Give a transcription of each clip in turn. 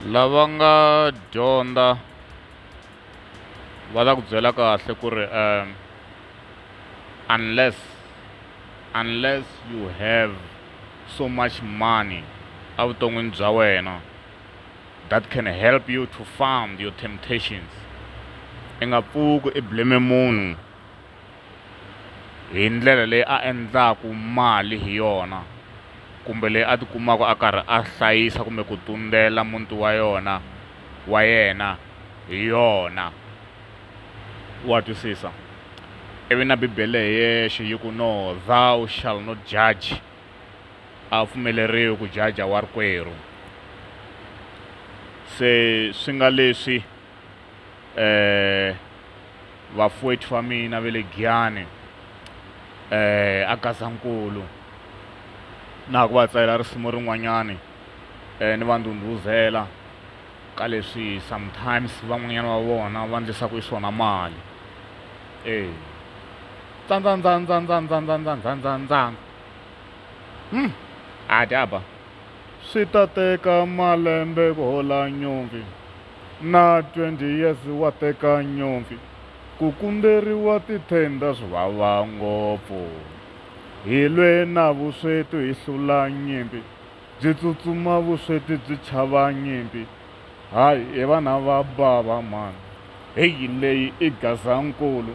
lava nga dyondza va ta ku byela kahle ku ri um unless unless you have so much money evuton'wini bya wena that can help you to fund your temptations i nga pfuki i blame munhu hi ndlela leyi a endlaku mali hi yona kumbe leyi a tikumaka a karhi a hlayisa kumbe ku tundzela muti wa yona wa yena hi yona wa twisisa ivi na bibele hi yexe yi ku no thou shall not judge a wu pfumeleriwi ku jaja wa rikwerhu se swi nga leswi eh vafwethu va mina ve le Giyani eh a Gazankulu na ha ku va tsalela risimu rin'wanyani eh ni va ndhundhuzela ka leswi sometimes van'wanyana va vona va ndlisaku swona mali eh tsandzandzandzandzandzandzandzandzandzandzandzang hmm a dyaba swi ta teka malembe ku hola nyongi Na 20 years wa teka nyomfi. Ku kumberiwa ti tender swi vava ngopfu. Hi lwe na vusweti hi hlula nyimpi. Byi tsutsuma vusweti byi chava nyimpi. Hay i vana va bava mhani. Hey leyi i Gazankulu.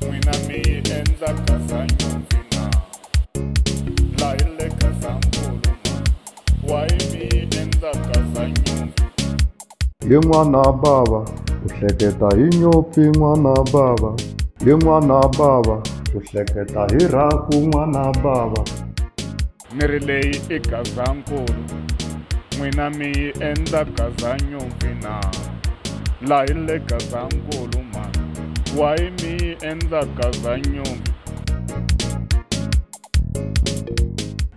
n'wina mi yi endla kazanyondzina laha yi le kazanguluma wayi mi yi endla kazanyonzi hi n'wana bava u hleketa hi nyopfi n'wana bava hi n'wana bava u hleketa hi rhaku n'wana bava miri leyi i gazankulu n'wina mi yi endla gazanyumpi na lahi le gazankulu ma wayi mi yi endla gazanyumpi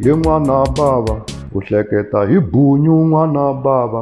hi n'wana bava ku hleketa hi bunyu n'wana bava